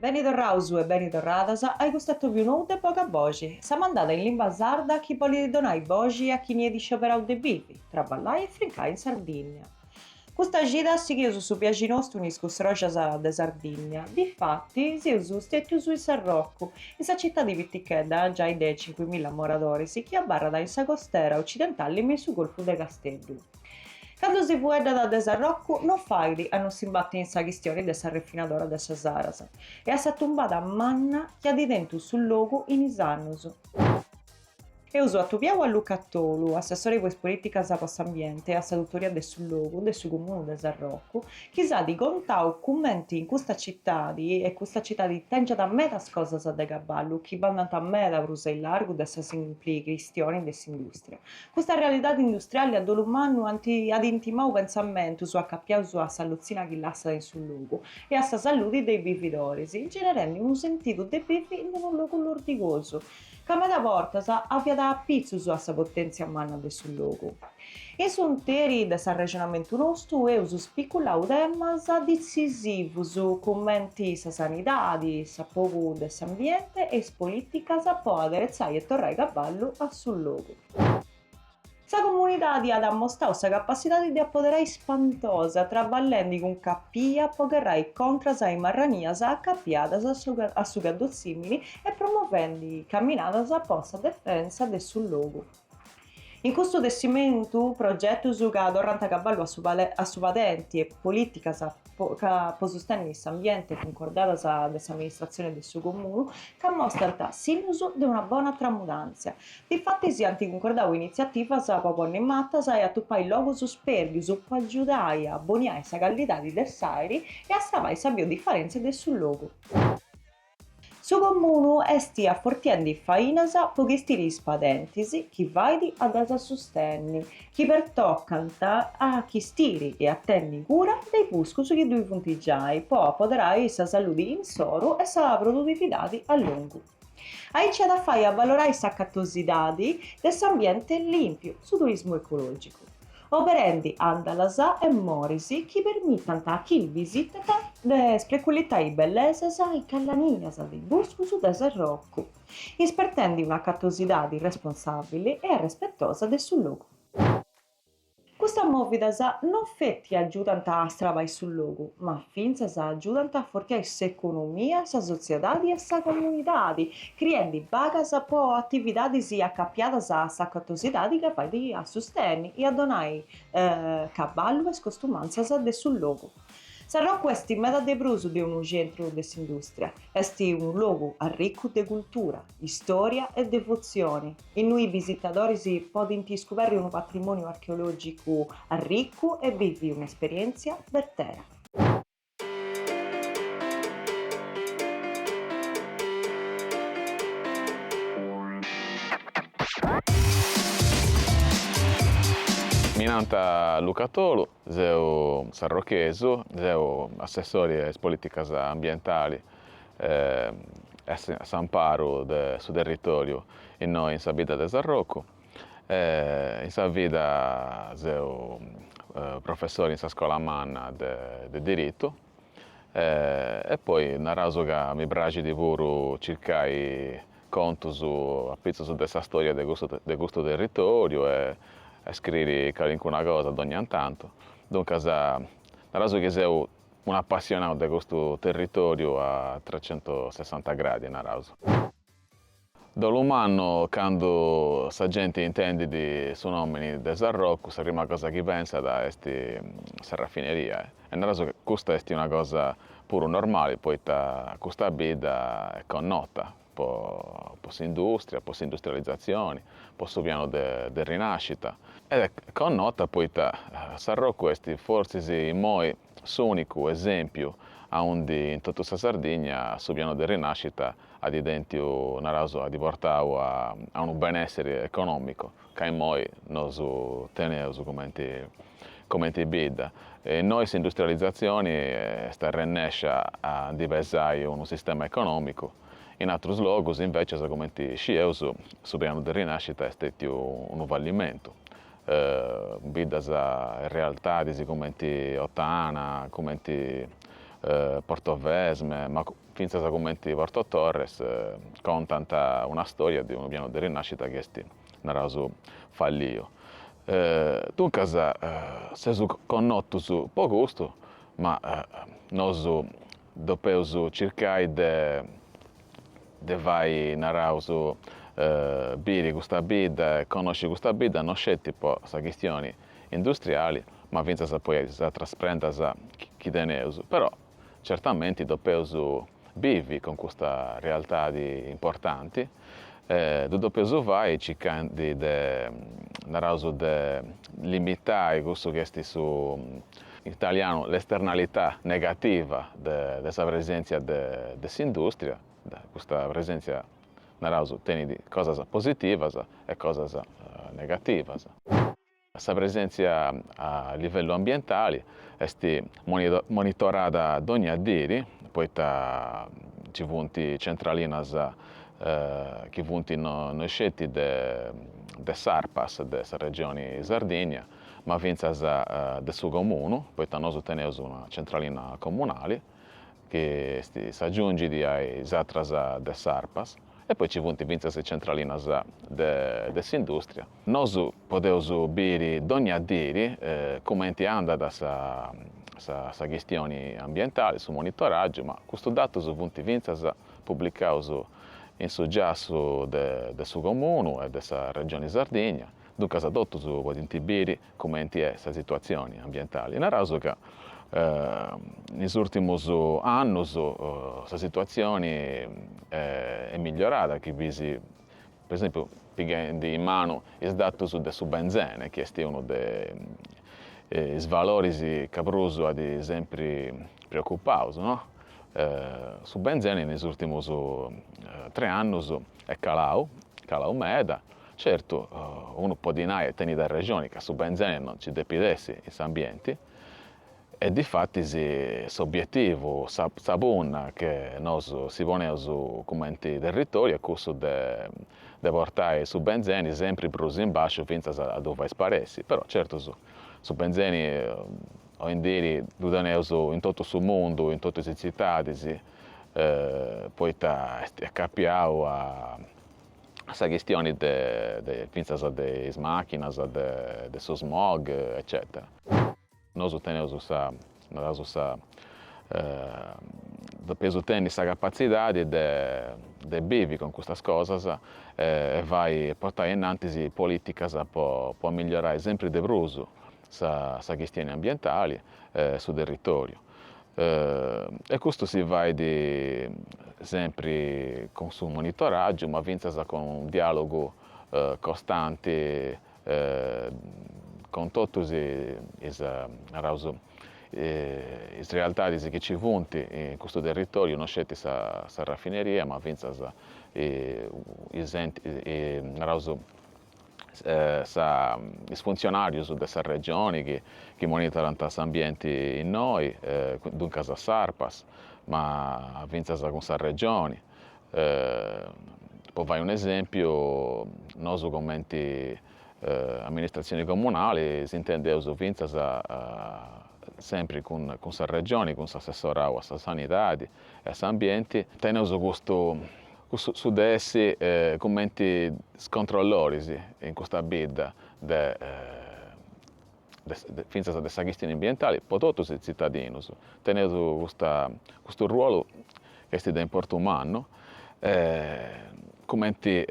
Beni torraus e beni torradas a i custu atòbiu nou de Boga Boxi, sa mandada in limba sarda chi bolit donai boxi a chini at scioberau de bivi, traballai e frincai in Sardinnia. Custa gida sighius su biaxi nostu in is custroxas de Sardinnia, difatis seus stetus in Sarrocu, in sa citadi pitichedda giai de cincuimilla moradoris chi abarrat in sa costera occidentali me in su golfu de Casteddu. Candu si fueddat de Sarrocu no fait a no s'imbatti in sa chistioni de sa refinadora de sa Saras e a sa tumbada manna chi at tentu su logu in is annus. Eus atobiau a Luca Tolu, assessore po is politicas po s'ambiente e a sa tutoria de su logu de su comunu de Sarrocu, chi s'at contau cumenti in custa citadi e custa citadi tengiat medas cosas de caballu chi bandant meda prus a illargu de sa simpli chistioni de s'industria, Custa realidadi industriali a dolu mannu at intimau pentzamentus acapiaus a sa lutzina chi lassat in su logu e a sa saludi de is bividoris, generendi unu sentidu de bivi in unu logu lordigosu, ca meda bortas aviat apitzus a sa potèntzia manna de su logu. In s'interi de s'arrexonamentu nostu eus spiculau temas ditzisivus cumenti sa sanidadi, s'apogu de s'ambienti e is polìticas po aderetzai e torrai caballu a su logu. Sa comunidadi at ammostau sa capassidadi de apoderai spantosa traballendi cun capia po gherrai contras a is marranias acapiadas a su caddotzìmini e promovendi caminadas po sa defensa de su logu. In custu tessimentu, progetus ca torrant caballu a su padenti e politicas ca po sustenni s'ambiente cuncordadas de s'amministratzione de su Comunu ca mostrant sinnus de una bona tramudantzia. Difatis ant cuncordau initziativas po ponni matas e atupai logus spérdius po agiudai a boniai sa callidadi de s'àiri e a salvai sa biodifarèntzia de su logu. Su Comunu est afortiendi fainas po chistiri is padentis chi fait a ddas sustenni, chi pertocant a chistiri e a tenni cura de is buscus chi ddui funt giai po apoderai sa saludi insoru e sa produtividadi a longu. Aici at a fai avalorai s'acatosidadi de s'ambienti limpiu, su turismu ecologicu. oberendi andalas e moris chi permitant a chini bisitat de spreculitai bellesas e galanias de is buscus de Sarrocu, ispertendi un'acatosidadi responsabili e arrespetosa de su logu. Custas movidas non feti agiudant a astrabai su logu, ma fintzas agiudant a fortiai s'economia, sa sotziedadi e sa comunidadi, criendi bagas po atividadis acapiadas a sa artesania ca fait a susteni e a donai balori a is costumantzas de su logu. Sarrocu est meda de prus de unu centru de s'industria, est unu logu arricu de cultura, istoria e devotzioni, innui is bisitadoris podint iscuberri unu patrimoniu archeologicu arricu e bivi un'esperientzia bertera. Mi nant Luca Tolu, seu sarrochesu, seu assessori a is polìticas ambientalis e a s'amparu de su territòriu innoi in sa bidda de Sarrocu. E in sa vida seu professori in sa scola manna de diritu e poi naraus ca mi praxit puru circai contus apitzus de sa storia de custu de custu territoriu e e scriri calincuna cosa dogna in tantu. Duncas naraus chi seu unu apassionau de custu territoriu a trecentosessanta gradi naraus. A dolu mannu candu sa genti intendit su nomini de Sarrocu, sa prima cosa chi pensat est sa raffineria e naraus chi custa est una cosa puru normali poita custa bidda est connota po po s'industria, po s'industrializatzioni, po su pianu de de rinascita ed est connota poita Sarrocu est fortzis immoi s'ùnicu esèmpiu aundi in totu sa Sardigna su pianu de rinàscita at tentiu, naraus, at portau a unu benèssiri econòmicu ca innoi nosu teneus cumenti cumenti bidda. Innoi s'industrializatzioni est arrennèscia a ndi pesai unu sistema econòmicu, in atrus logus, invècias, cumenti scieus, su pianu de rinàscita est stètiu unu fallimentu, biddas e realtadis cumenti Ottana, cumenti Portovesme, ma fintzas cumenti Porto Torres, contant una stòria de unu pianu de rinàscita chi est, naraus, falliu. Duncas, seus connotus po custu, ma nosu depeus circai de de fai, naraus, biri custa bidda e connosci custa bidda no sceti po sa chistioni industriali ma fintzas po is atras prendas chi teneus, però certamenti depeus bivi cun custa realtadi importanti e ddu depeus fai circandi de, naraus, de limitai cussu chi esti su in italianu, l'esternalità negativa de sa presèntzia de s'indùstria, custa presèntzia, naraus, tenit cosas positivas e cosas negativas. Sa presèntzia a livellu ambientali est monitorada dònnia diri, poita ci funt centralinas chi funt no sceti de s'ARPAS de sa Regioni Sardigna, ma fintzas de su Comunu, poita nosu teneus una centralina comunali chi est s'agiungit a is àteras de s'Arpas e poi ci funt fintzas is centralinas de s'industria. Nosu podeus biri dogna diri cumenti andat sa chistioni ambientali, su monitoràgiu, ma custus datus funt fintzas publicaus in su giassu de su Comunu e de sa Regioni Sardigna, duncas totus podint biri cumenti est sa situatzioni ambientali. Naraus ca in is ùrtimus annus sa situatzioni est migliorada chi fiis, po esempiu, pighendi in manu is datus de su benzene chi est unu de is valoris ca prus at sempri preocupaus, no. Su benzene in is ùrtimus tres annus est calau, calau meda Certu, unu podit nai e tenit arrexoni ca su benzeni no ci depit essi in s'ambienti e difatis s'obietivu, sa sa punna che nosu si poneus cumenti territoriu est cussu de de portai su benzeni sempri prus in basciu fintzas a ddu fai sparessi, però certu su su benzeni oindiri ddu teneus in totu su mundu, in totus is tzitadis, poita est est capiau a a sa chistioni de de fintzas de is màchinas, de de su smog eccètera. Nosu teneus sa, naraus sa, depeus tenni sa capatzidadi de de bivi cun custas cosas e fai e portai innantis polìticas po amigliorai sempri de prus sa sa chistioni ambientali e su territòriu. e custu si fait sempri cun su monitoràgiu ma fintzas cun unu diàlogu costanti cun totus is, naraus, is realtadis chi ci funt in custu territòriu, no sceti sa sa rafineria ma fintzas is enti, naraus, is funtzionàrius de sa Regioni chi monitorant s'ambienti innoi, duncas a s'Arpas, ma fintzas cun sa Regioni. Po fai un'esèmpiu, nosu cumenti amministratzioni comunali s'intendeus fintzas sempri cun sa Regioni, cun s'assessorau a sa Sanidadi e a s'Ambienti, teneus custu Cussu su de essi cumenti is controlloris in custa bidda de de fintzas de sa chistioni ambientali po totus is tzitadinus. Teneus custa custu ruolu chi esti de importu mannu cumenti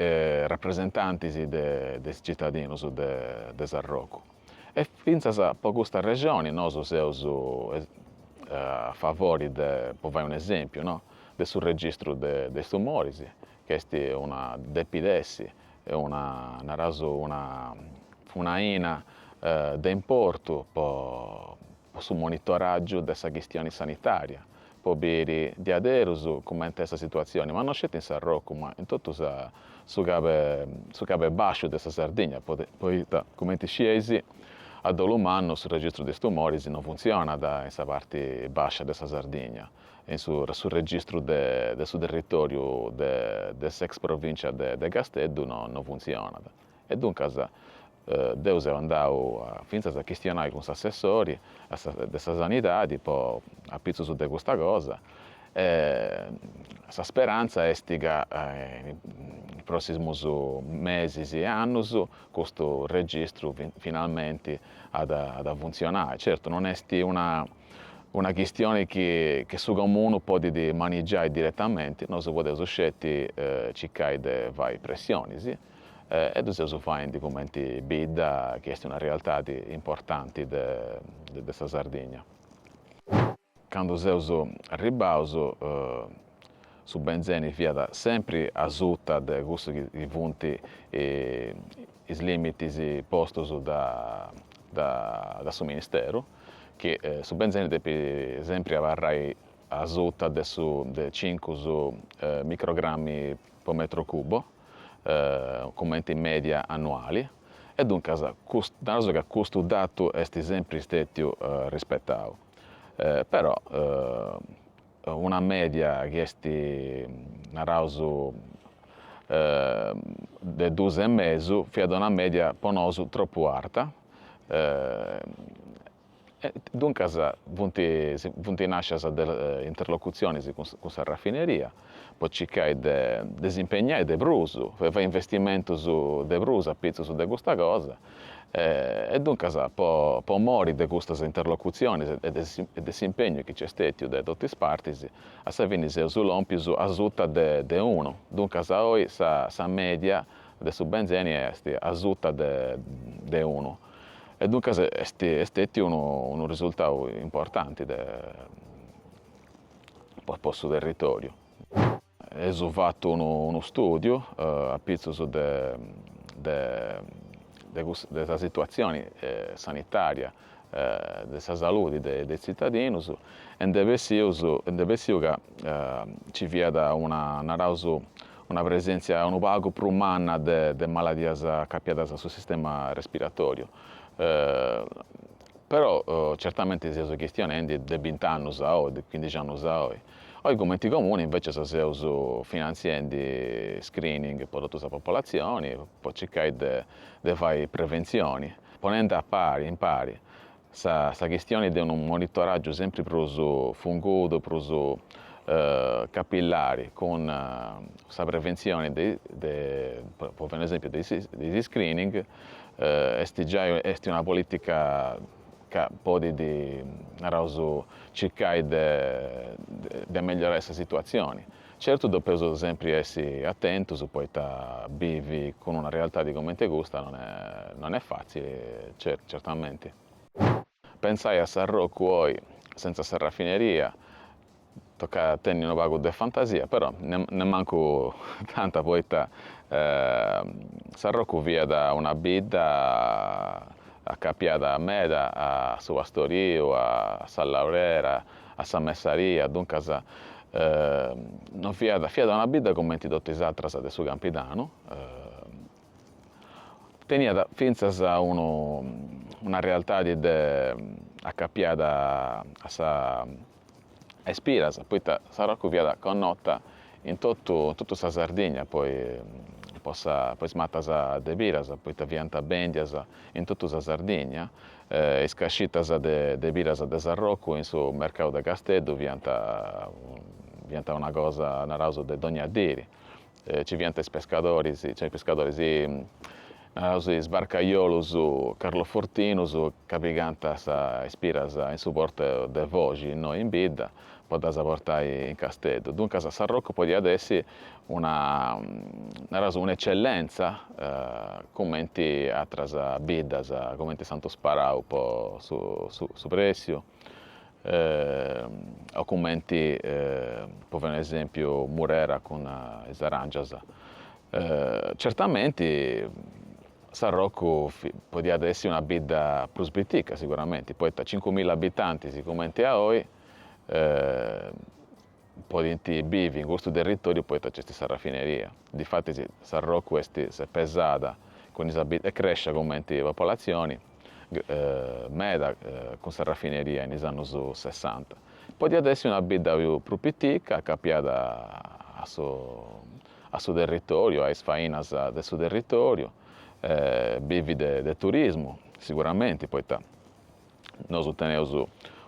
rapresentantis de de is tzitadinus de de Sarrocu. E fintzas po custa arrexoni nosu seus a favori de, po fai un'esempiu no, de su registru de is tumoris, chi est una depit essi, una, naraus, una faina de importu po su monitoràgiu de sa chistioni sanitària, po biri diaderus cumenti est sa situatzioni, ma no sceti in Sarrocu, ma in totu sa, su cabu, su cabu 'e basciu de sa Sardigna, poita, cumenti scieis, a dolu mannu su registru de is tumoris no funtzionat in sa parti bascia de sa Sardigna, in su su registru de de su territòriu de de s'ex provìncia de de Casteddu no no funtzionat. E duncas deu seu andau fintzas a chistionai cun s'assessori de sa Sanidadi po apitzus de custa cosa e sa speranza est ca in is prossimus mesis e annus custu registru finalmenti at at a funtzionai. Certu non est una una chistioni chi che su comunu podit manigiai diretamenti, nosu podeus sceti circai de fai pressionis e ddu seus faendi cumenti bidda chi est una realtadi importanti de de sa Sardigna. Candu seus arribbaus Su benzeni fiat sempri asuta de cussu chi funt is limitis postus da su ministeru, chi su benzeni depit sempri abarrai asuta de su de cincus microgrammi po metru cubo, cumenti media annuali, e duncas una cosa ca custu datu est sempri stètiu rispetau, però una mèdia chi est, naraus, de duus e mesu, fiat una mèdia po nosu tropu arta e duncas funt funt nàscias de interlocutzionis cun sa rafineria po circai de de si impegnai de prus, de fai investimentus de prus apitzus de custa cosa e duncas po mori de custas interlocutzionis e de s'impegnu chi nc'est stètiu de totu is partis, a sa fini seus lòmpius asuta de unu, duncas oi sa mèdia de su benzeni est asuta de unu e duncas est stètiu unu risultau importanti po su territòriu. Eus fatu unu stùdiu apitzus de sa situatzioni sanitària de sa saludi de is tzitadinus e nd'e bessius, nd'e bessiu ca nci fiat una, naraus, una presèntzia unu pagu prus manna de maladias acapiadas a su sistema respiratoriu. Però certamenti seus chistionendi de bint'annus a oi, de chindixi annus a oi Oi cumenti Comuni invècias seus finantziendi screening po totu sa popolatzioni po circai de fai preventzioni, ponendi a pari in pari sa chistioni de unu monitoràgiu sempri prus fungudu, prus capillari cun sa preventzioni de, po fai unu esèmpiu, de is screening, est giai est una polìtica ca podit, naraus, circai de de megliorai sa situatzioni. Certu depeus sempri essi atentus poita bivi cun una realtadi cumenti custa non est non est fatzili, certamenti. Pentzai a Sarrocu oi sentza sa rafineria Tocat a tenni unu pagu de fantasia, però nemmancu tanta poita Sarrocu fiat una bidda acapiada meda a su pastoriu, a sa laurera, a sa messaria, duncas non fiat, fiat una bidda cumenti totu is atras de su Campidanu, Teniat fintzas unu una realtadi de acapiada a sa a is piras, poita Sarrocu fiat connota in totu in totu sa Sardigna po is po sa po is matas de piras, poita fiant bèndias in totu sa Sardigna, is cascitas de de piras de Sarrocu in su mercau de Casteddu fiant fiant una cosa, naraus, de dogna dì. Ci fiant is pescadoris, cioè is pescadoris, naraus is barcajolus carlofortinus ca pigànt is piras in su portu de Foxi, innoi in bidda, po ddas portai in Casteddu. Duncas Sarrocu podiat essi una, naraus, un'ecellenza, cumenti atras biddas, cumenti Santu Sparau po su pressiu, o cumenti po fai un'esempiu Murera cun is aràngias, certamenti Sarrocu podiat essi una bidda prus pitica siguramenti, poita cincu milla abitantis cumenti a oi podint bivi in custu territòriu poita nc'est sa rafineria. Difatis Sarrocu est, s'est pesada cun is abit est crèscia cumenti popolatzioni meda cun sa rafineria in is annus sessanta. Podiat essi una bidda prus pitica acapiada a su a su territòriu, a is fainas de su territòriu, bivi de turismu siguramenti poita Nosu teneus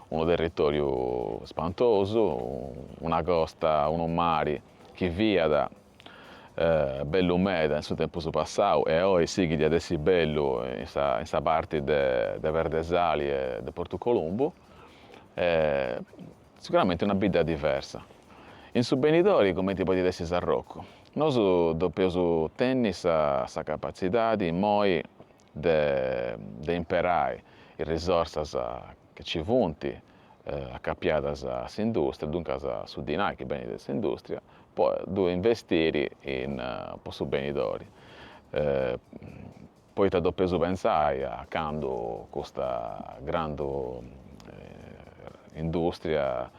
unu territoriu spantosu, una costa, unu mari chi fiat bellu meda in su tempus passau e oi sighit a essi bellu in sa in sa parti de de Perdesali e de Portu Columbu e siguramenti una bidda diversa. In su benidori cumenti podit essi Sarrocu, nosu depeus tenni sa sa capatzidadi immoi de de imperai is risorsas chi nci funt acapiadas a s'industria, duncas su dinai chi benit de s'industria, po ddu investiri in po su benidori, poita depeus pentzai a candu custa grandu industria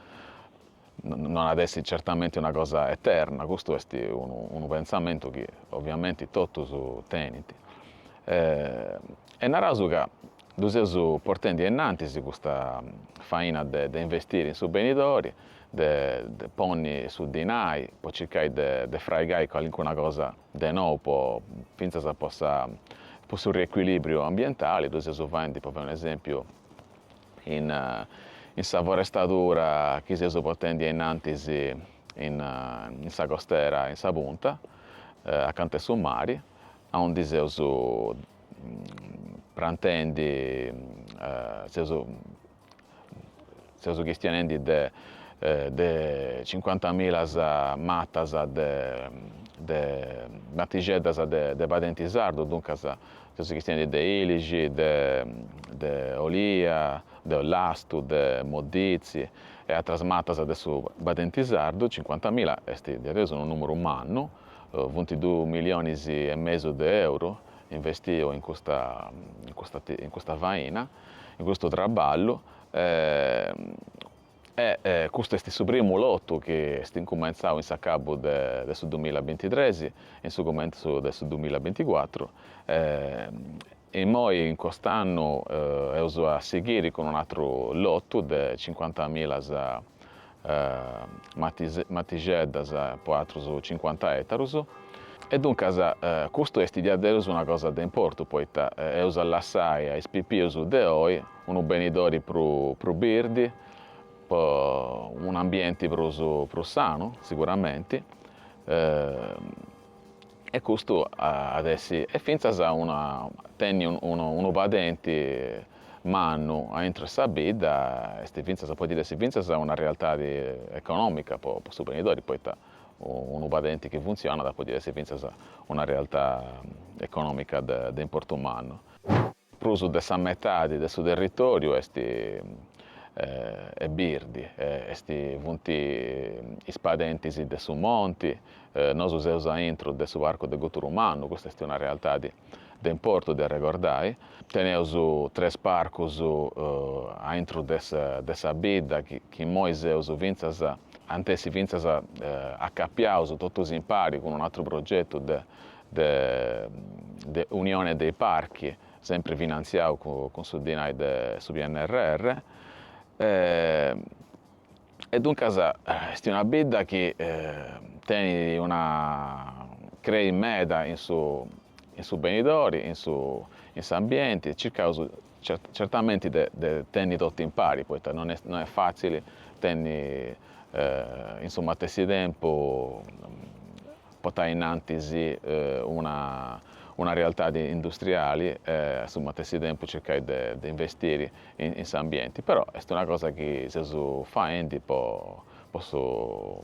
Non at essi certamenti una cosa eterna, custu est unu pentzamentu chi oviamenti totus tenint. E naraus ca ddu seus portendi a innantis custa faina de de investiri in su benidori, de de ponni su dinai po circai de de fraigai calincuna cosa de nou po fintzas po sa po su riecuilibriu ambientali, ddu seus faendi, po fai un'esempiu in in sa forestadura chi seus portendi ainnantis in in sa costera in sa punta acanta 'e su mari aundi seus prantendi seus seus chistionendi de de cincuantamilas matas de de matixeddas de de padenti sardu duncas Si chistionat de Ilixi, de Olia, de Ollastu, de Moditzi e atras matas de su padenti sardu, cincuantamila est diaderus unu nùmeru mannu, funt duus milionis e mesu de euru investius in custa in custa faina, in custu traballu e E custu est su primu lotu chi est incumentzau in s'acabu de su dumilla bintitres e in su cumentzu de su dumilla binticuatru. Immoi in cust'annu eus a sighiri cun un'atru lotu de cincuantamila matixeddas po atrus cincuanta etarus. E duncas custu est diaderus una cosa de importu poita eus a lassai a is pipius de oi Unu benidori prus birdi, po un'ambienti prus prus sanu siguramenti, e custu at essi, e fintzas una tenni unu padenti mannu aintru 'e sa bidda est fintzas, podit essi fintzas una realtadi economica po su benidori, poita unu padenti chi funtzionat podit essi fintzas una realtà economica de importu mannu. Prus de sa metadi de su territòriu est birdi, est funt is padentis de su monti, nosu seus a intro de su Parcu de Guturumannu, custa est una realtadi de importu de arregordai, teneus tres parcus a intro de sa bidda chi immoi seus fintzas, ant essi fintzas acapiaus totus impari cun un'atru progetu de de de Unione dei Parchi, sempri finantziau cun su dinai de su PNRR, e duncas est una bidda chi tenit una crei meda in su in su benidori, in su in s'ambienti, circaus certamenti de de tenni totu impari, poita non est non est fatzili tenni in su matessi tempus potai innantis una una realtadi industriali e a su matessi tempus circai de de investiri in in s'ambienti, però est una cosa chi seus faendi po po su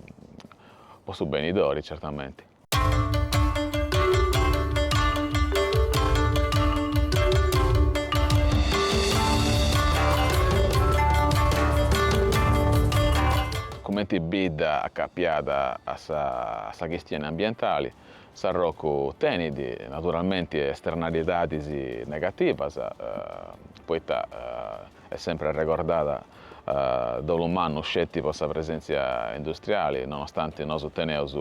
po su benidori certamenti. Cumenti bidda acapiada a sa chistioni ambientali, Sarrocu tenit naturalmenti esternalidadis negativas, poita est sempri arregordada dolu mannu sceti po sa presentzia industriali, nonostanti nosu teneus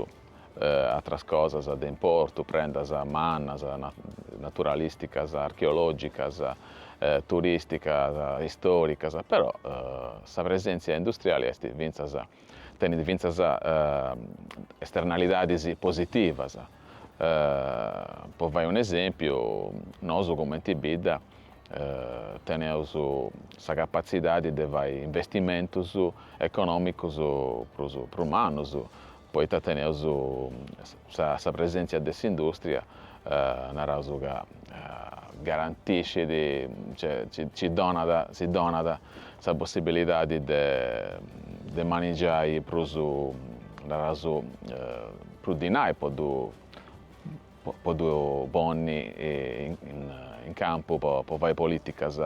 atras cosas de importu, prendas mannas, naturalìsticas, archeològicas, turìsticas, istòricas, però sa presèntzia industriali est fintzas tenit fintzas esternalidadis positivas. Po fai unu esèmpiu, nosu cumenti bidda teneus sa capatzidadi de fai investimentus econòmicus prus prus mannus, poita teneus sa presèntzia de s'indùstria, naraus ca garantiscit, nci onat, si donat sa possibilidadi de manigiai prus, naraus, prus dinai po ddu po ddu ponni in campu po fai polìticas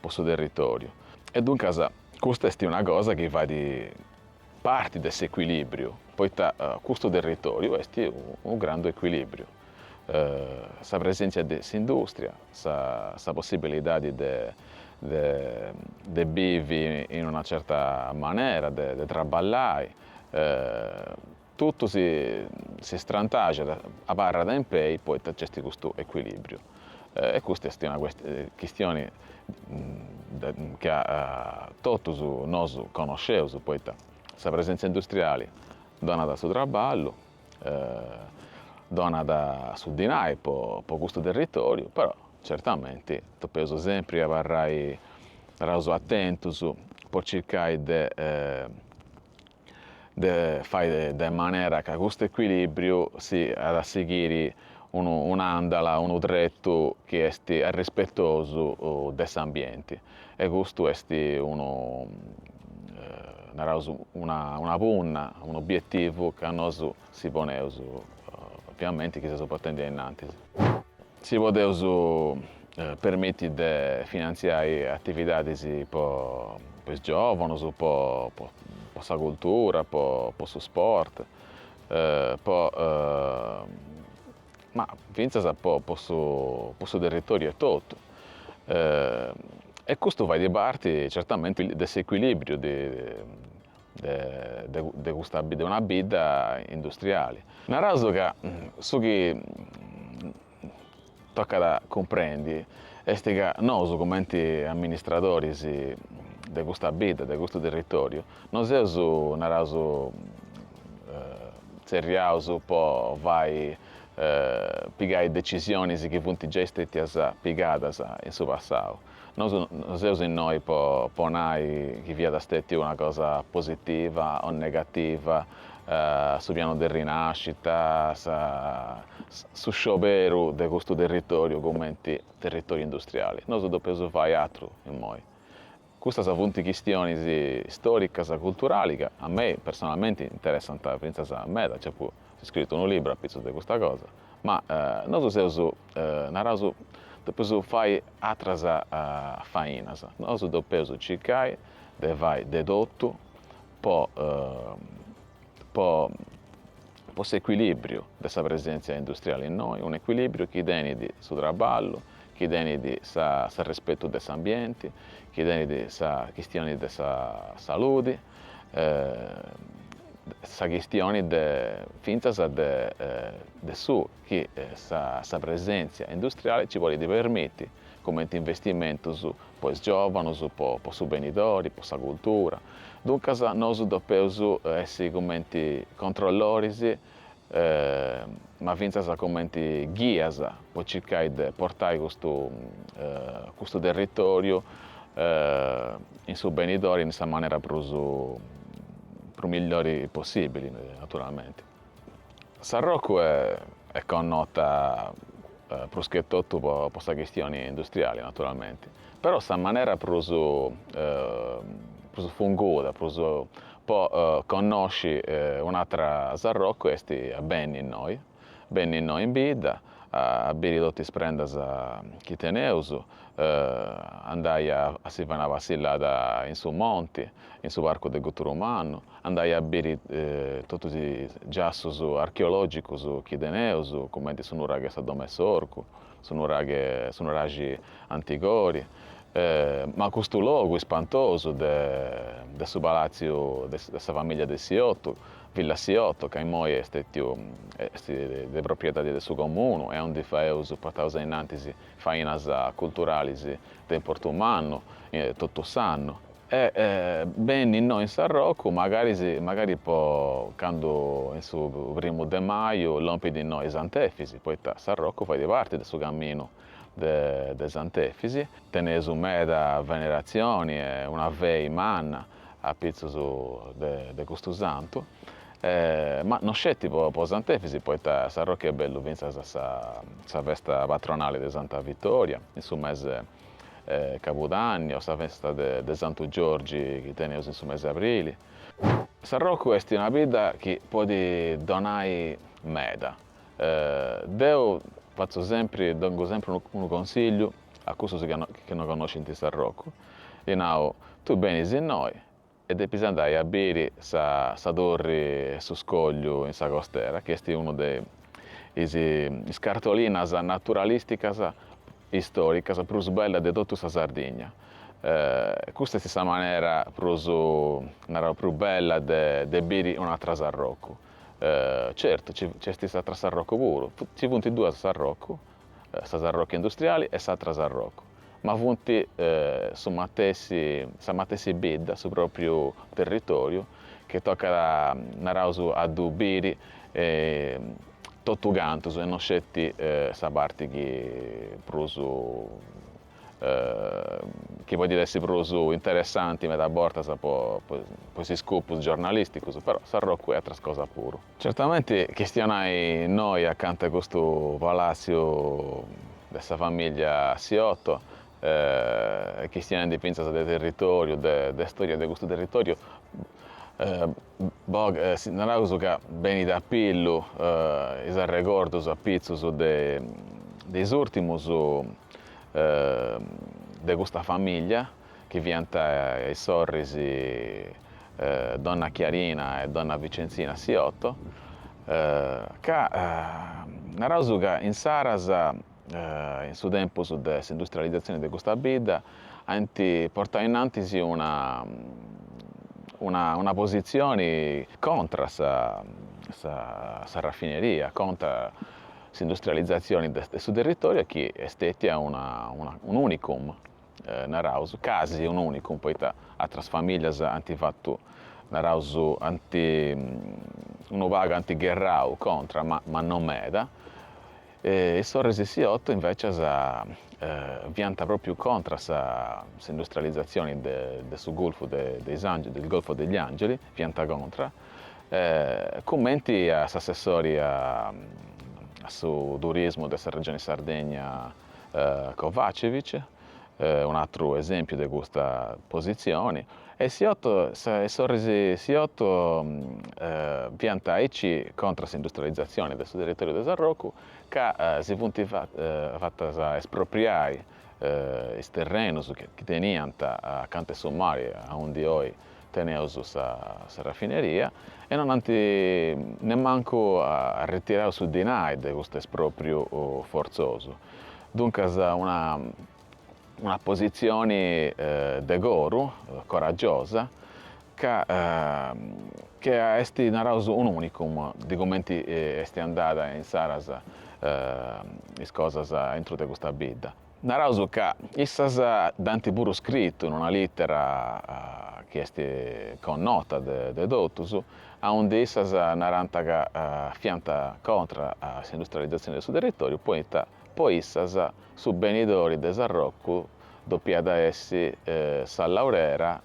po su territòriu. E duncas custa est una cosa chi fait parti de s'ecuilìbriu, poita custu territòriu est unu grandu ecuilìbriu, sa presèntzia de s'indùstria, sa possibilidadi de bivi in una certa manera, de traballai, totu si strantaxat, abarrat in pei, poita nc'est custu ecuilìbriu. E custa est una chistioni ca totus nosu connosceus, poita sa presentzia industriali donat su traballu, donat su dinai po custu territoriu, però certamente depeus sempri abarrai, naraus, atentus po circai de de fai de manera ca custu equilibriu siat a sighiri unu un'andala, unu tretu chi est arrispetosu de s'ambienti e custu est unu naraus una una punna, un'obietivu ca nosu si poneus ovviamenti chi seus portendi ainnantis. Si podeus permiti de finantziai atividadis po is giòvonus, po sa cultura, po su sport, po ma fintzas po su territoriu etotu. E custu fait parti, certamente, de s'ecuilibriu de de custa bidda, una bidda industriali. Naraus ca su chi tocat a cumprendi est ca nosu cumenti amministradoris de custa bidda, de custu territoriu, no seus, naraus, tzerriaus po fai, pigai decisionis chi funt giai stetias pigadas in su passau. Nosu no seus innoi po nai chi fiat stètiu una cosa positiva o negativa, su pianu de rinàscita, sa su scioberu de custu territòriu cumenti territòriu industriali. Nosu depeus fai atru immoi. Custas funt chistionis stòricas, culturali ca a mei personalmenti interessant fintzas meda, nci apu scritu unu libru apitzus de custa cosa. ma nosu seus, naraus, depeus fai atras fainas, nosu depeus circai de fai de totu po po po s'ecuilibriu de sa presentzia industriali innoi, un ecuilibriu chi tenit su traballu, chi tenit s'arrespetu de s'ambienti, chi tenit sa chistioni de sa saludi sa chistioni de fintzas de de su chi sa sa presèntzia industriali nci podit permiti, cumenti investimentus po is giòvanus, po po su benidori, po sa cultura. Duncas nosu depeus essi cumenti controlloris ma fintzas cumenti ghias po circai de portai custu custu territoriu in su benidori in sa manera prus prus millori possibili naturalmenti. Sarrocu est connota prus che totu po sa chistioni industriali naturalmenti, Però sa manera prus prus funguda prus po connosci un'atra Sarrocu est benni innoi, benni innoi in bidda a biri totu is prendas chi teneus, andai a si fai una passillada in su monti, in su parcu de Guturu Mannu, andai a biri totus is giassus archeologicus chi teneus, cumenti su nuraghe Sa Domu 'e s'Orcu. su nuraghe, su nuraxi Antigori, ma custu logu ispantosu de de su palatziu de de sa famìlia de Siotto, Villa Siotto, ca immoi est stetiu est de propriedadi de su comunu e aundi faeus portaus ainnantis fainas culturalis de importu mannu totu s'annu. E benni innoi in Sarrocu, magari, magari po candu in su primu de maju lompit innoi Sant'Efisi, poita Sarrocu fait parti de su caminu de de Sant'Efisi. Teneus meda veneratzioni e una fidi manna apitzus de de custu santu, ma no sceti po po Sant'Efisi, poita Sarrocu est bellu fintzas a sa sa festa patronali de Santa Vitoria, in su mese Cabudanni o sa festa de Santu Giorgi chi teneus in su mesi 'e aprili. Sarrocu est una bidda chi podit donai meda. Deu fatzu sempri, dongu sempri unu consigliu a cussus chi no connoscint Sarrocu, ddi nau, tui benis innoi e depis andai a biri sa sa torri 'e su scogliu in sa costera chi est unu de is is cartolinas naturalisticas istoricas prus bellas de totu sa Sardigna custa est sa manera prus narau prus bella de de biri un'atra Sarrocu certu ci ci est s'atra Sarrocu puru ci funt duas Sarrocu sa Sarrocu industriali e s'atra Sarrocu ma funt su matessi, sa matessi bidda, su pròpriu territòriu, chi tocat, naraus, a ddu biri totugantu e no sceti sa parti chi prus, chi podit essi prus interessanti meda bortas po is scopus giornalìsticus, però Sarrocu est atras cosas puru. Certamenti chistionai innoi acanta 'e custu palàtziu de sa famìllia Siotto e chistionendi fintzas de territòriu, de istòria de custu territòriu, naraus ca benit a pillu is arregordus apitzus de is ùrtimus de custa famìllia. chi fiant is sorris donna Chiarina e donna Vicenzina Siotto, ca naraus ca insaras, in su tempus de s'industrializatzioni de custa bidda, ant portau inantis una una una positzioni contra a sa sa sa raffineria, contra s'industrializatzioni de su territoriu e chi est stètia una una un'unicum naraus, casi un'unicum, poita atras famìllias ant fatu, naraus, ant unu pagu ant gherrau contra ma ma no meda. Is sorris Siotto invècias fiant pròpriu contra sa s'industrializatzioni de de su Golfu de de is Angeli, del Golfo degli Angeli, fiant contra, cumenti a s'assessori a su turismu de sa Regioni Sardegna, Covacivich, un'atru esèmpiu de custa positzioni, e Siotto is sorris Siotto fiant aici contra s'industrializatzioni de su territòriu de Sarrocu ca si funt fatas espropriai is terrenus chi teniant acanta 'e su mari aundi oi teneus sa rafineria e non ant nemmancu arretirau su dinai de custu espròpriu fortzosu. Duncas una una positzioni de coru, coragiosa, ca che est naraus un'unicum de cumenti est andada insaras is cosas aintru de custa bidda. Naraus ca issas dd'ant puru scritu in una lìtera chi est connota de totus, aundi issas narant ca fiant contra a s'industrializatzioni de su territòriu poita po issas su benidori de Sarrocu depiat essi sa laurera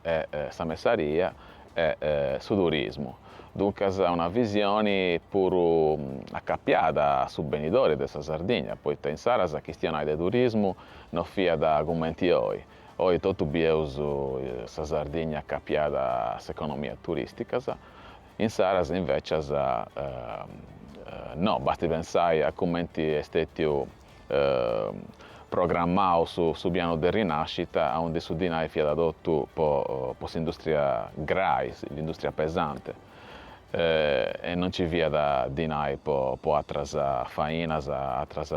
e sa messaria e su turismu, duncas una visioni puru acapiada a su benidori de sa Sardigna, poita insaras a chistionai de turismu no fiat cumenti oi, oi totu bieus sa Sardigna acapiada a is economias turisticas, insaras invecias no, basti pensai a cumenti est stetiu programmau su pianu de rinascita, aundi su dinai fiat totu po s'industria grai, s'industria pesante, e non nci fiat dinai po atras fainas, atras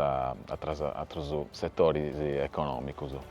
atrus setoris economicus.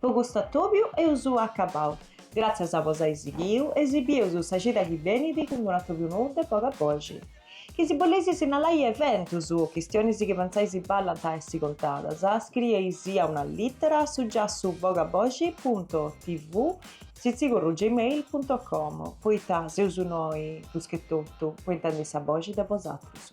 Po custu atobiu eus acabau. Gràtzias a bos ai sighiu e si bius sa cida chi benit cun unu atobiu nou de boga boxi. Chi si boleis sinnalai eventus o chistionis chi pentzais chi ballant a essi contadas, scrieis a una lìtera a su giassu boga boxi punto tv sitzigorru gmail punto com poita seus noi prus che totu po intendi sa boxi de bosatrus.